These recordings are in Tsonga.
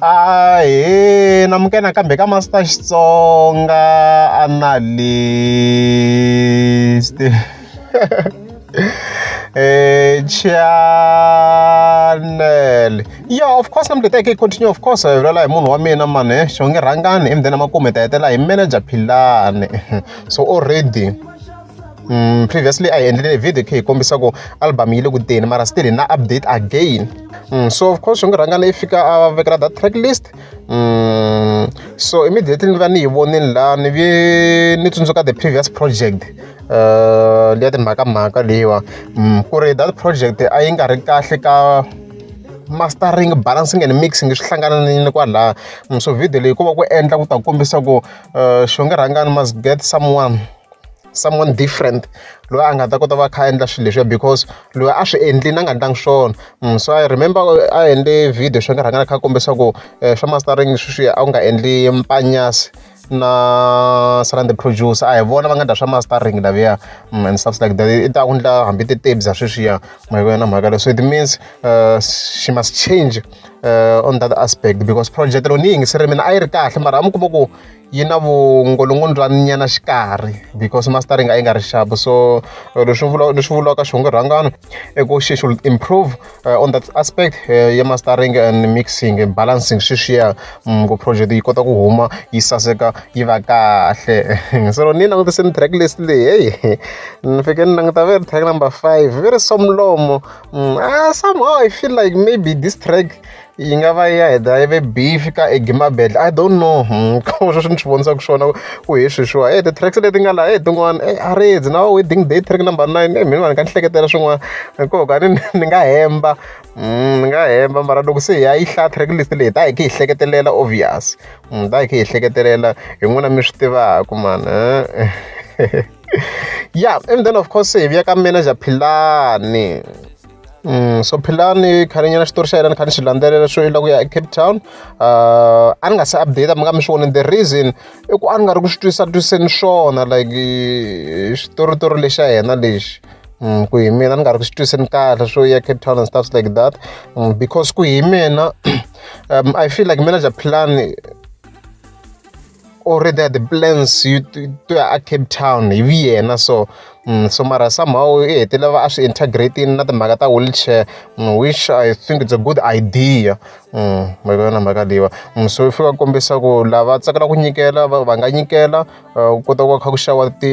Ahee, namukela nakambe ka Master Xitsonga Analyst. eh channel yeah of course nambe ta ke continue of course hi lala hi munhu wa mina mane eh, xo nge rhangani emdeni makume ta hetela hi manager philane so already Mm, previously a hi endlile video khe hi kombisa ku album yi le ku teni mara still hi na update again mm, so of course swi nge rhangana yi fika a vekela that track list mm, so immediately ni va ni yi vonile la ni vi ni tsundzuka the previous project uh, liya timhakamhaka leyiwa mm, ku ri that project a yi nga ri kahle ka mastering balancing and mixing swi hlangananile kwalaha mm, so video leyi ku va ku endla ku ta kombisa ku uh, xo nge rhangani must get someone someone different loyi a nga ta kota va kha a endla swilo leswiya because loyi a swi endlile a nga endlangi swona mm, so i remember a endle video swi nga rhanga a kha a kombisa ku eh, swa mastering sweswiya a wu nga endli mpanyasi na surround the producer a hi vona va nga dya swa mastering laviya mm, and stuff like that i ta ku ndla hambi titebza sweswiya mhaka yona mhaka leyo so it means uh, she must change uh, on that aspect because project loko ni yi yingiseri mina a yi ri kahle mara a mi kuma ku yi na vungolongondo bya nyana xikarhi because mastering a yi nga ri xapu so eh, leswi vula leswi vulaka xihungu rhangano i ku she should improve uh, on that aspect uh, ya mastering and mixing and balancing sweswiya um, mm, ku project yi kota ku huma yi saseka yi va kahle so loko ni langutise ni track list leyi heyi ni fike ni languta ve ri track number five ve ri somlomo um, mm, ah, somehow i feel like maybe this track yi nga va ya heta yi ve beef ka egimabedla i don't know hmm, ka sweswo swi ni swi vonisa ku swona ku hi sweswiwa e ti-tracks leti nga laha e tin'wana e a ri na wedding day track number nine e mhini va ni ka ni hleketela swin'wana hikoho ka ni ni nga hemba hmm, ni nga hemba mara loko se hi ya yi hlaya track list leyi ta hi khe hi hleketelela obvious hmm, ta hi khe hi hleketelela hi n'wina mi swi tivaka mani ya and then of course hi vuya ka manager philani so philani khaninyana xitori xa yena ni kha ni xi landzelela swo ila ku ya ecape town uh, a ni nga se update mi nga mi swi voni the reason i ku a ni nga ri ku swi twisa twiseni swona like xitoritori lexa yena lexi mm, ku hi mina ni nga ri ku swi twiseni kahle swo ya cape town and stuffs like that mm, because ku hi mina um, i feel like manager philani or the, the plans you to, to a cape town hi vi yena so mm, so mara somehow i hetelela va a swi integrating na timhaka ta wheelchair mm, which i think it's a good idea mm, ma vona mhaka leyiwa mm, so fika ku kombisa ku lava tsakelaka ku nyikela va nga nyikela uh, kota ku va kha ku xawa ti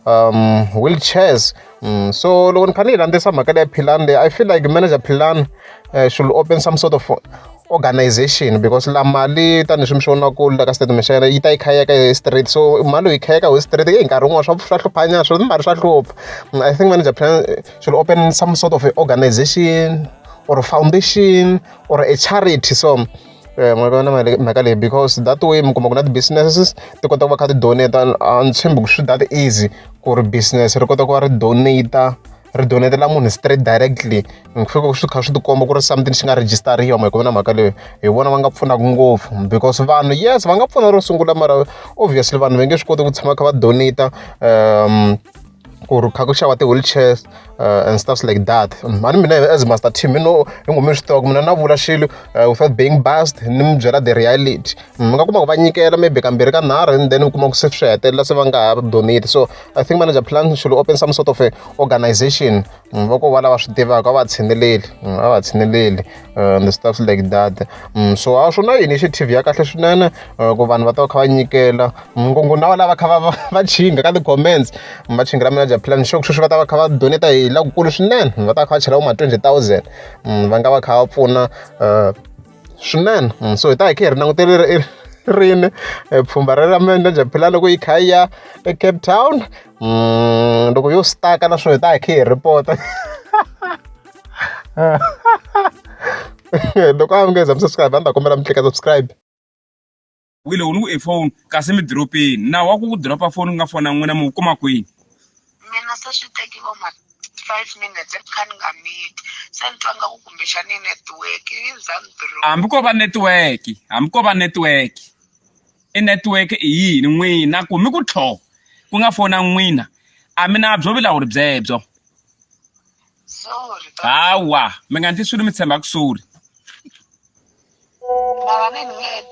um, wheelchairs Mm, so loko ni kha ni landzisa mhaka leya philan leyi i feel like manager philan uh, eh, should open some sort of organization because la mali tanihi swi mi swi vonaku la ka statement xa yena yi ta yi khayeka hi street so mali yi khayeka hi street yi nkarhi wun'wana swa swa hluphanyana swi mari swa hlupha mm, i think manager philan eh, should open some sort of organization or foundation or a charity so Eh, n'wana va na mhaka leyi because that way mi kuma ku na ti-businesses ti kota ku va kha ti donate a ni tshembi ku swi that easy ku ri business ri kota ku va ri donate ri donetela munhu straight directly ni ku fika swi kha swi tikomba ku ri something xi nga rejistariwa ma ku na mhaka leyo hi vona va nga pfunaka ngopfu because vanhu yes va nga pfuna ro sungula mara obviously vanhu va nge swi koti ku tshama kha va donate um ku ri kha ku xava ti-wheelchairs uh, and stuffs like that mm, a ni mina as master team you know hi ngo mi swi tiva ku mina na vula xilo uh, without being bust ni mi byela the reality mm, mi nga kuma ku va nyikela maybe kambirhi ka nharhu and then mi kuma ku se swi hetelela se va nga ha donate so i think manager plan should open some sort of a organization Mm, va ko va lava swi tivaka a va tshineleli mm, a va tshineleli uh, the stuff like that mm, so a swi na initiative ya kahle swinene uh, ku vanhu va ta va kha va nyikela ngongo na va lava kha va va chinga ka ti-comments va chingela manager plan xo sweswi va ta va kha va doneta hi lakukulu swinene va ta va kha va chela vo ma twenty thousand va nga va kha va pfuna uh, Swinene mm, so hi ta hi kha hi ri langutele ri rini e, pfhumba ra ra mende bya phila loko yi kha yi ya ecape town mm, loko yo staka na swo hi ta hi kha hi repota loko a mi nge za mi subscribe a ni ta kombela mi tlika subscribe wi loko ni ku e phone kasi mi diropeni nawu wa ku ku diropa phone ku nga fona n'wina mi wu kuma kwini mina se swi teki vo ma five minutes ni kha ni nga miti se ni twa nga ku kumbexani network yi za ni diropa hambi ko va network hambi ko va network i network i yini n'wina ku mi ku tlho ku nga fona n'wina a mi na byo vilawuri byebyo sorry baba. hawa mi nga ndli swilo mi tshemba ku sori Mara ni nghena.